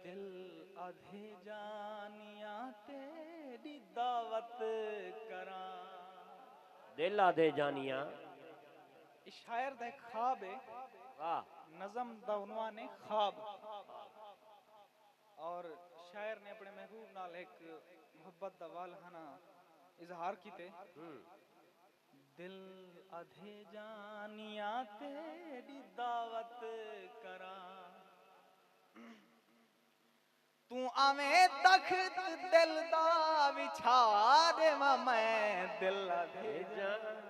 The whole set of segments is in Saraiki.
دل آدھے جانیاں تیڈی دعوت کراں۔ دل آدھے جانیاں۔ اے شاعر دا ہک خواب ہے۔ واہ۔ نظم دا عنوان ہے خواب۔ اور شاعر نے اپنے محبوب نال ہک محبت دا والہانہ اظہار کیتے۔ دل ادھے جانیاں تیڈی دعوت کراں توں آویں تخت دل دا وچھا ڈیواں میں دل ادھے جانیاں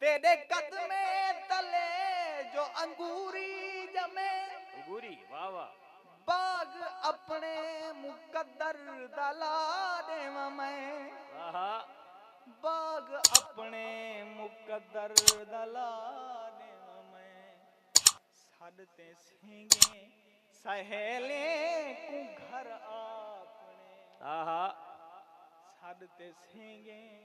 تیݙے قدمیں تلے جو انگوری ڄمے۔ انگوری واہ واہ۔ باغ اپݨے مقدر دا لا ݙیواں میں۔ آہا۔ باغ اپݨے مقدر دا لا ݙیواں میں۔ سݙ تیں سینگیں سہیلیں کوں گھر آپݨے۔ آہا۔ سݙ تیں سینگیں۔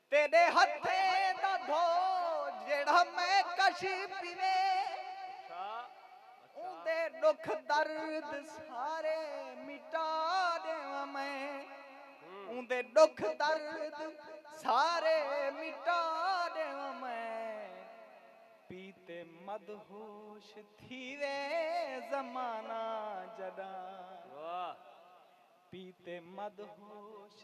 تیݙے ہتھیں دا دھو جیڑھا میں کشی پیوے اوندے ݙکھ درد سارے مٹا ݙیواں میں اوندے ݙکھ درد سارے مٹا ݙیواں میں پی تے مدہوش تھیوے زمانہ جݙاں پی تے مدہوش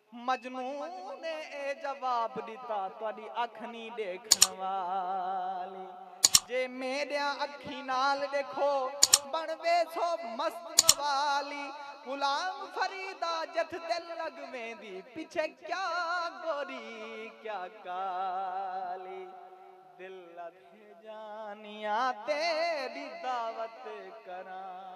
مجنوں نے اے جواب ݙتا تہاݙی اکھ نی ݙیکھݨ والی جے میݙیاں اکھیں نال ݙیکھو بݨ ویسو مست موالی غلام فریدا جتھ دل لڳ ویندی پچھے کیا گوری کیا کالی دل ادھے جانیاں تیݙی دعوت کراں۔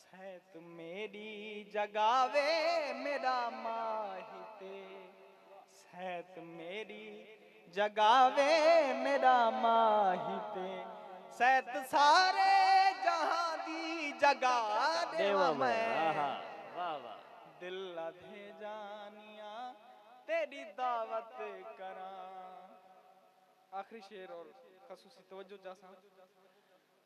سیت میݙی جڳاوے میݙا ماہی تے سیت میݙی جڳاوے میݙا ماہی تے سیت سارے جہاں دی جڳا ݙیواں میں دل ادھے جانیاں تیݙی دعوت کراں آخری شعر اور خصوصی توجہ چاہساں۔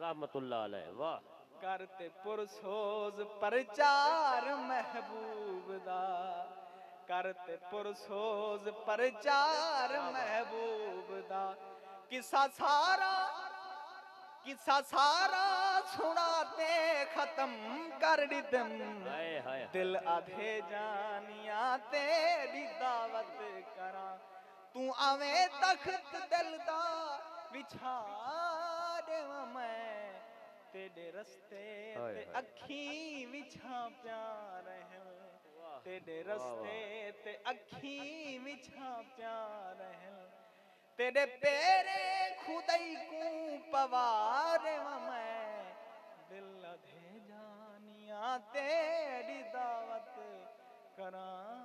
رحمت اللہ علیہ واہ۔ کر تے پر سوز پرچار محبوب دا۔ کر تے پر سوز پرچار محبوب دا۔ قصہ سارا قصہ سارا سنا تے ختم کر ڈتم۔ دل آدھے جانیاں تیڈی دعوت کراں۔ توں آویں تخت دل دا وچھا ݙیواں میں تیݙے رستے تے اکھیں وچھاں پیاں رہل تیݙے رستے تے اکھیں وچھاں پیاں رہل تیݙے پیریں خدائی کوں پوا ݙیواں میں دل ادھے جانیاں تیݙی دعوت کراں۔